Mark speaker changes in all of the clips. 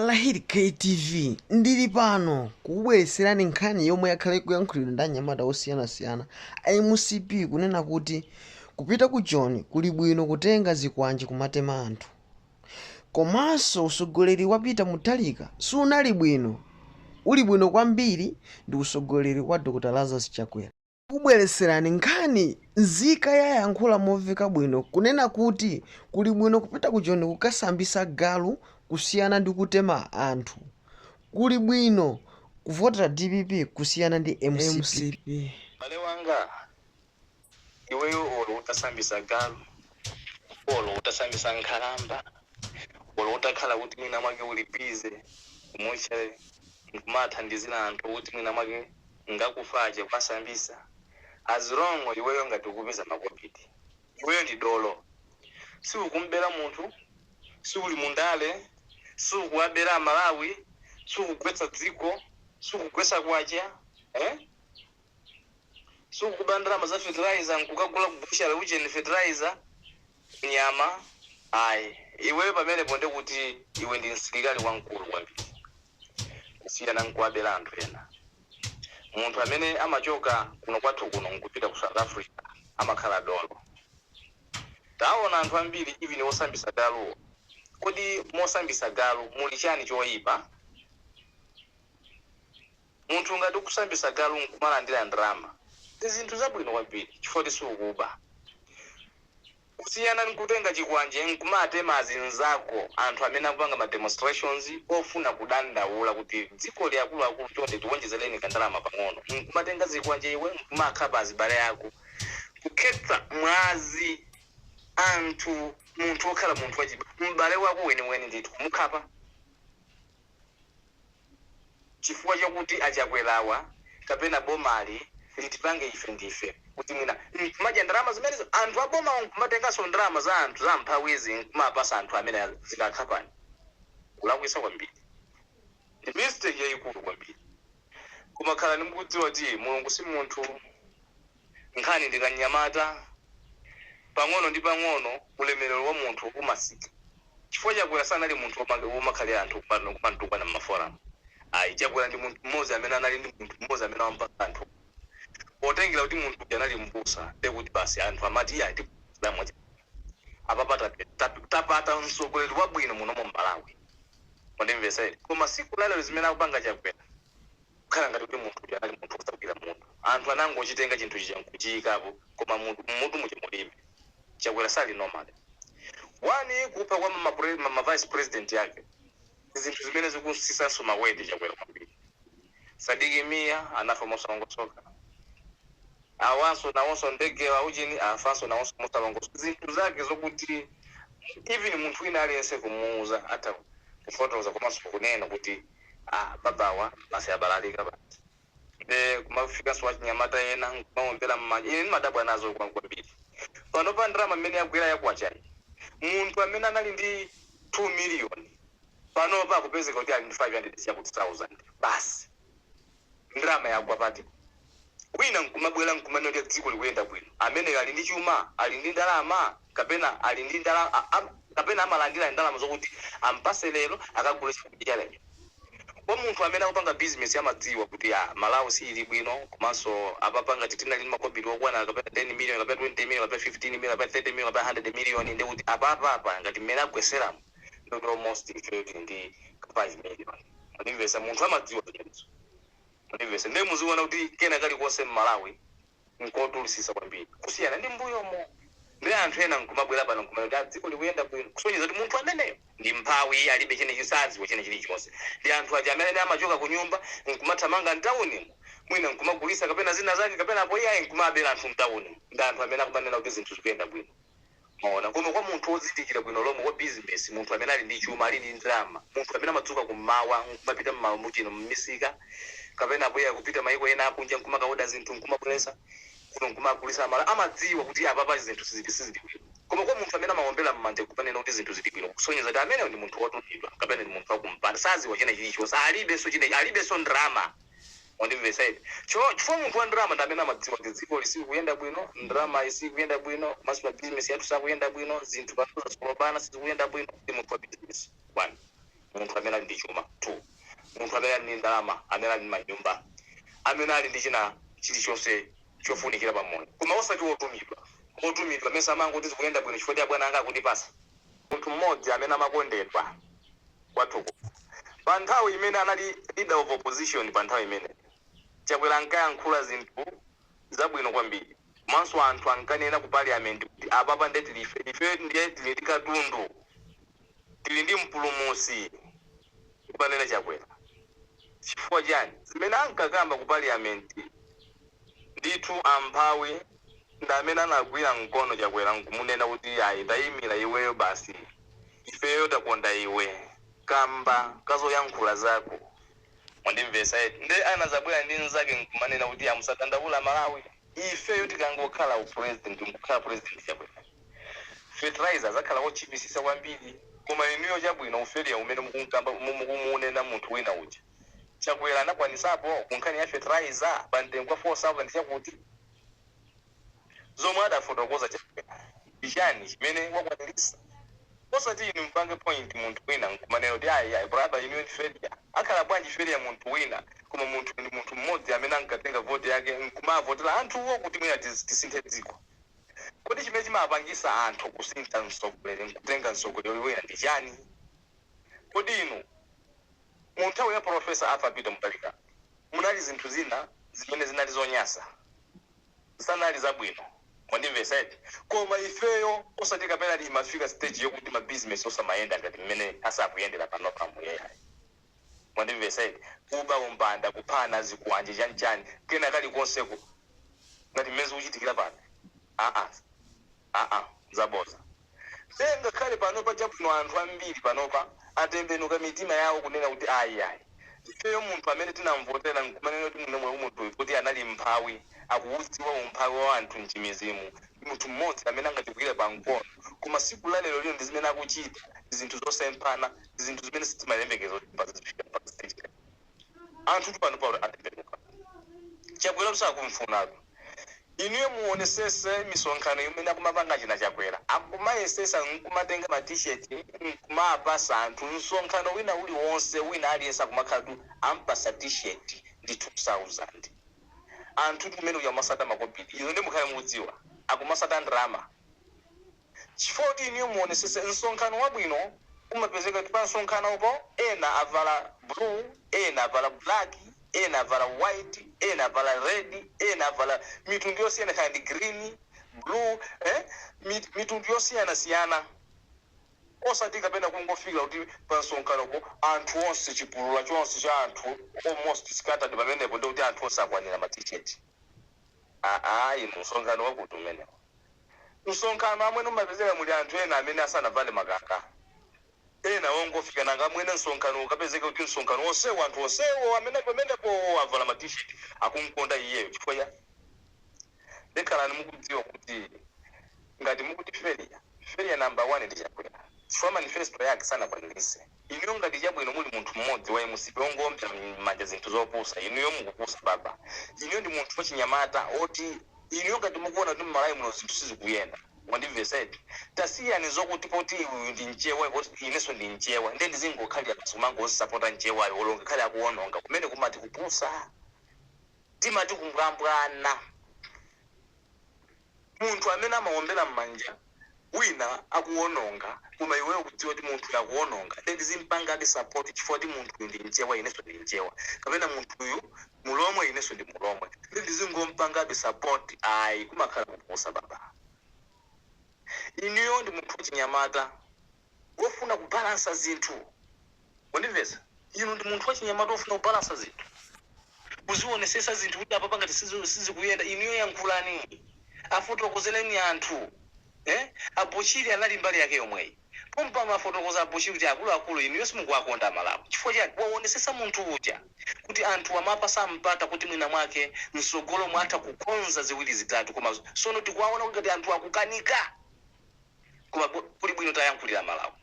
Speaker 1: Lahir KTV ndili pano kukubweretserani nkhani yomwe yakhala ikuyankhulidwa ndi anyamata osiyanasiyana a mcp kunena kuti kupita ku joni kuli bwino kutenga zikwanje kumatema anthu komanso usogoleri wa Peter Mutharika sunali bwino uli bwino kwambiri ndi usogoleri wa Dr Lazarus Chakwera. Kubweretserani nkhani, Nzika yayankhula momveka bwino kunena kuti kuli bwino kupita ku Joni kukasambisa galu kusiyana ndi kutema anthu. Kuli bwino kuvotera dpp kusiyana ndi mcp. M'bale
Speaker 2: wanga, iweyo olo utasambisa galu, olo utasambisa nkhalamba. olo utakhala kuti mwina mwake uli busy ku mortuary nkumathandizira anthu kuti mwina mwake ngakufa aja kuwasambisa as long iweyo ngati ukupeza makobidi iweyo ndi dolo siukumbera munthu siuli mu ndale siukuwabera amalawi sukugwetsa dziko sukugwesa kwacha eh? sukuba ndalama za fertilizer nkukagula ku butchery ujeni fertilizer nyama ayi iweyo pamenepo nde kuti iwe ndi msilikali wamkulu kwambiri kusiyana nkuwabera anthu ena munthu amene amachoka kuno kwathu kuno nkupita ku south africa amakhala dolo taona anthu ambiri even osambisa galuwo kodi mosambisa galu muli chani choyipa Munthu ngati ukusambisa galu nkumalandira ndalama ndi zinthu zabwino kwambiri chifukwa siukuba kusiyana nkutenga chikwanje nkumatema azinzako anthu amene akupanga ma demonstrations ofuna kudandaula kuti dzikoli akuluakulu chonde tiwonjezeleni kandalama pang'ono nkumatenga zikwanje iwe nkumakhapa azibale ako kukhetsa mwazi anthu munthu okhala munthu wachib m'bale wako weniweni ndithu kumukhapa. chifukwa chokuti a Chakwerawa kapena bomali litipange ife ndife kuti mwina mkumadya ndalama zimenezo anthu abomawo mkumatenganso ndalama za anthu za amphawizi mkumapasa anthu amene dzikakhapani kulakwisa kwambiri ndi mistake yayikulu kwambiri koma khalani mukudziwa kuti mulungu simunthu. Nkhanga ndi kamnyamata. Pang'ono ndi pang'ono ulemerero wa munthu umasintha. Chifukwa Chakwera sanali munthu womakhalira anthu kumamtukwana m'maforamu ayi. Chakwera ndi munthu mmodzi amene anali ndi munthu mmodzi amene amamupatsa anthu ulemu. Potengera kuti munthu uja anali m'busa ndiye kuti basi anthu amati iyayi timukonda mwa Chakwera. Apapa tapeza, tapata mtsogoleri wabwino muno mu Malawi. Mwandimvetsa eti? Koma tsiku la lero zimene akupanga Chakwera. kukhala ngati kuti munthu uja anali munthu wosagwira mutu. Anthu anangochitenga chinthu chija nkuchiikapo koma mutu, mmutu muja mulibe. Chakwera sali normal. 1 kupha kwa ma, ma, pre, ma, ma vice president ake ndi zinthu zimene zikusisanso ma weight Chakwera kwambiri. Sadiki Mia anafa mosalongosoka. Awanso nawonso ndege wa ujeni afanso nawonso mosalongosoka. Zinthu zake zokuti even munthu wina aliyense kumuuza atha kufotoza komanso kunena kuti. aah babawa basi abalalika basi nde kumafikanso wachinyamata ena nkumaombela mmanja ine ndimadabwa nazo kwambiri panopa ndalama mmene yagwela ya kwachayi munthu amene anali ndi 2 million panopa akupezeka kuti ali ndi 500 chakuti thousand basi. Ndalama yagwa pati? Wina nkumabwela nkumanena kuti dziko likuyenda bwino. Ameneyo ali ndi chuma? Ali ndi ndalama? Kapena ali ndi ndala a a kapena amalandila ndalama zokuti ampase lero akagule chakudya cha lero? Kwa munthu amene akupanga business amadziwa kuti Malawi siili bwino komanso apapa ngati tinali ndi makobidi okwana kapena 10 million kapena 20 million kapena 15 million kapena 30 million kapena 100 million ndekuti apapa apa ngati mmene agweselamu ndi almost ili ndi ka 5 million mundimvesa munthu amadziwa zimenezo mundimvesa ndiye muziona kuti kena kalikonse mmalawi nkodulisisa kwambiri kusiyana ndi mbuyomo ndi anthu ena nkumabwera pano nkumanena kuti dziko likuyenda bwino kusonyeza kuti munthu ameneyo ndi mphawi alibe china chi sadziwa china chilichonse ndi anthu aja amene amachoka ku nyumba nkumathamanga mtaunimo mwina nkumagulisa kapena zina zake kapena apo iyaye nkumabera anthu mtaunimo ndi anthu amene akumanena kuti zinthu zikuyenda bwino Mwaona, koma kwa munthu wozindikira bwino lomwe, wa bizinesi, munthu amene ali ndi chuma, ali ndi ndalama, munthu amene amadzuka kummawa nkumapita mmawa muno, mmisika, kapena apoyayi kupita maiko ena akunja nkumakaoda zinthu nkumabweretsa kuno nkumagulitsa Amalawi, amadziwa kuti apapa zinthu sizili, sizili bwino. Koma kwa munthu amene amawombera mmanja nkumanena kuti zinthu zili bwino, kusonyeza kuti ameneyo ndi munthu wotumidwa kapena ndi munthu wakumpanda, sadziwa china chilichonse, alibenso china, alibenso ndalama. Mwandimvetsa eti? Cho, chifukwa munthu wa ndalama ndi amene amadziwa kuti dzikoli silikuyenda bwino, ndalamayi siikuyenda bwino, komanso mabizinesi athu sakuyenda bwino, zinthu panopa zasolobana, sizikuyenda bwino, ndi munthu wa bizinesi, 1. munthu amene ali ndi chuma, 2. munthu amene ali ndi ndalama, amene ali ndi manyumba, amene ali ndi china chilichonse chofunikira pa moyo. Koma osati wotumidwa. Wotumidwa, mesa amangoti zikuyenda bwino chifukwa choti abwana anga akundipatsa? Munthu mmodzi amene amakondedwa. kwathu kuno. Pa nthawi imene anali leader of opposition pa nthawi imeneyo, Chakwera ankayankhula zinthu zabwino kwambiri komanso anthu ankanena ku parliament kuti apapa nde tili ife, ife ndiye tili ndi katundu, tili ndi mpulumutsi kumanena Chakwera. Chifukwa chiyani? Zimene ankakamba ku parliament ndithu amphawi ndi amene anagwira mkono Chakwera nkumunena kuti ayi tayimira iweyo basi. ifeyo takonda iwe kamba kazoyankhula zako mwandimvesa eti nde anazabwela ndi nzake nkumanena kuti a musadandaule amalawi ifeyo tikangokhala u president nkukhala president chakwera fertilizer azakhala otchipisisa kwambiri koma inuyo chabwino u failure umene mukunkamba mukumuunena munthu wina uja chakwera anakwanisapo kunkhani ya fertilizer pa mtengo wa 4000 cha kuti zomwe adafotokoza chakwera ndi chani chimene wakwanilisa osati inu mpange point munthu wina nkumanena kuti ayi ayi brother inuyo ndi failure akhala bwanji failure munthu wina koma munthuyu ndi munthu mmodzi amene ankatenga vote yake nkumavotela anthuwo kuti mwina tiz- tisinthe dziko kodi chimene chimapangisa anthu kusintha mtsogoleri nkutenga mtsogoleri wina ndi chani kodi inu mu nthawi ya professor arthur peter mutharika munali zinthu zina zimene zinali zonyasa sanali zabwino mwandimvesa eti koma ifeyo osati kapena imafika stage yokuti ma business osamayenda ngati mmene asakuyendera panopamu ayi mwandimvesa eti kuba umbanda kuphana zikwanje chanichani kena kalikonseko ngati mmene zikuchitikira pano aa aa zaboza nde ngakhale panopa chabwino anthu ambiri panopa atembenuka mitima yawo kunena kuti ayi ayi ifeyo munthu amene tinamvotera nkumanena kuti mwina munthuyu poti anali mphawi akuwudziwa umphawi wa anthu nchimizimu ndi munthu mmodzi amene angatigwire pa mkono koma siku la lero lino ndi zimene akuchita zinthu zosemphana ndi zinthu zimene sitimayembekeza kuti pa. Anthutu panopa atembenuka. Chakwera sakumfunatu. Inuyo muonesese misonkhano imene akumapanga achina Chakwera. Akumayesesa nkumatenga ma t-shirt nkumapasa anthu. Msonkhano wina uliwonse wina aliyense akumakhalatu ampasa t-shirt ndi 2000. Anthutu kumene kuja kumasata makobidi. Izo nde mukhale mukudziwa. Akumasata ndalama. Chifukwa kuti inuyo muonesese msonkhano wabwino umapezeka kuti pamsonkhanopo ena avala blue, ena avala black, ena avala white, ena avala red, ena avala mitundu yosiyana kaya ndi green, blue eh mit mitundu yosiyana siyana osati kapena kungofika kuti pamsonkhanopo anthu onse chipulula chonse cha anthu almost scattered pamenepo ndekuti anthu onse akwanira ma t-shirt. Aaa inu msonkhano wakuti umenewo? Msonkhano amwene umapezeka muli anthu ena amene asanavale makaka ena ongofika nanga amwene msonkhano ukapezeke kuti msonkhano onsewo anthu onsewo amene ali pamenepo avala ma t-shirt akumkonda iyeyo chifukwa cha nde khalani mukudziwa kuti ngati mukuti failure failure number one ndi chakwera chifukwa manifesto yake sanakwanilise Inuyo ngati chabwino muli munthu mmodzi wa mcp ongoombela mmanja zinthu zopusa inuyo mukupusa baba inuyo ndi munthu wachinyamata oti inuyo ngati mukuona kuti mmalawi muno zinthu sizikuyenda wandimvesa eti tasiyani zokuti poti uyu ndi mchewa poti ineso ndi mchewa ndiye ndizingokhalila basi kumangomsapota mchewayo olo ngakhale akuononga kumeneko mumati kupusa timati kumbwambwana. Munthu amene amawombera mmanja wina akuwononga koma iweyo ukudziwa kuti munthuyo akuwononga nde ndizimpangabe support chifukwa kuti munthuyu ndi mchewa inenso ndi mchewa kapena munthuyu mulomwe inenso ndi mulomwe nde ndizingompangabe support ayi kumakhala kupusa baba inuyo ndi munthu wachinyamata wofuna kubalansa zinthu. Mwandimvetsa? Inu ndi munthu wachinyamata wofuna kubalansa zinthu. Kuzionesesa zinthu kuti apapa ngati sizi, sizikuyenda inuyo yankhulani. Afotokozeleni anthu. Eh? A Bushiri anali mbali yake yomweyi. Pompano afotokoza a Bushiri kuti akuluakulu inuyo simukuwakonda a Malawi. Chifukwa chiyani? Waonesesa munthu uja kuti anthuwa amapasa mpata kuti mwina mwake msogolomu atha kukonza ziwiri zitatu koma sono tikuwaona kuti ngati anthuwa akukanika. koma kuli bwino tiayankhulire amalawi.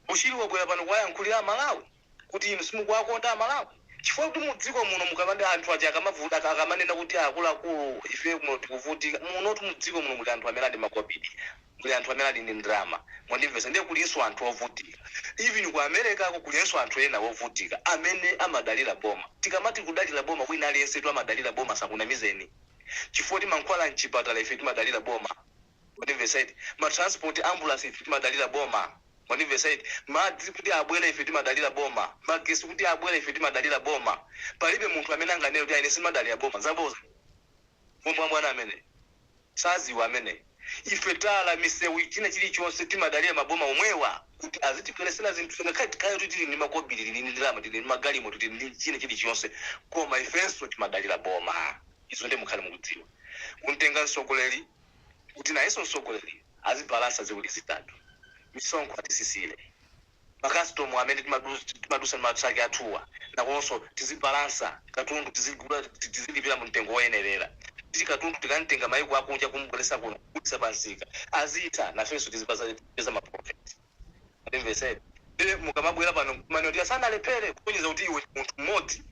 Speaker 2: Bushiri wabwera pano kuwayankhulira amalawi kuti inu simukuwakonda amalawi chifukwa kuti mu dziko muno mukamati anthu aja akamavuta akamanena kuti akuluakulu ifeyo kuno tikuvutika munotu mu dziko muno muli anthu amene ali ndi makobiri muli anthu amene ali ndi ndalama mwandimvetsa ndiye kulinso anthu ovutika even ku americako kulinso anthu ena ovutika amene amadalira boma tikamati kudalira boma wina aliyensetu amadalira boma asakunamizeni chifukwa timankhwala mchipatala ife timadalira boma mwandimvetsa eti, ma transport ambulasi ife timadalira boma mwandimvetsa eti, madzi kuti abwere ife timadalira boma, magesi kuti abwere ife timadalira boma, palibe munthu amene anganene kuti ayi ine sindimadalira boma, zabodza, mbwambwana ameneyo, saziwa ameneyo. Ife tala, misewu, china chilichonse timadalira maboma omwewa kuti azitibweresera zinthuzi ngakhale tikhale kuti tili ndi makobiri, tili ndi ndalama, tili ndi magalimoto, tili ndi china chilichonse koma ifenso timadalira boma. Izo ndiye mukhale mukudziwa. Kumtenga mtsogoleri kuti nayenso mtsogoleri azibalansa ziwiri zitatu. Misonkho atisisile. ma custom amene timadusa ndi ma truck athuwa nakonso tizibalansa katundu tizigula tizilipila mumtengo oyenelera kuti katundu tikamtenga maiko akunja kumubwelesa kuno kugulisa pa msika azitha nafenso tizipeza ma profit mwandimvesa eti ndiye mukamabwela pano nkumanena kuti asanalephere kusonyeza kuti iwe ndi munthu mmodzi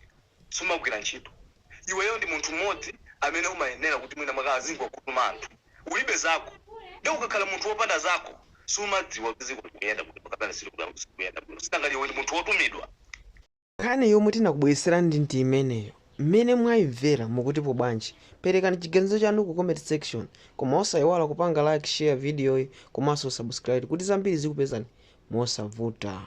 Speaker 2: sumagwila ntchito. iweyo ndi munthu mmodzi amene umayenera kuti mwina mwake azingokakutuma anthu ulibe zako nde ukakhala munthu wopanda zako sumadziwa kuti dziko likuyenda bwino kapena silikuyenda bwino si nanga iwe ndi munthu wotumidwa Nkhani
Speaker 1: yomwe tinakubwereserani ndi imeneyo, mmene mwaimvera mukutipo bwanji? Perekani chiganizo chanu ku comment section koma osaiwala kupanga like, share video yi komanso subscribe kuti zambiri zikupezani mosavuta.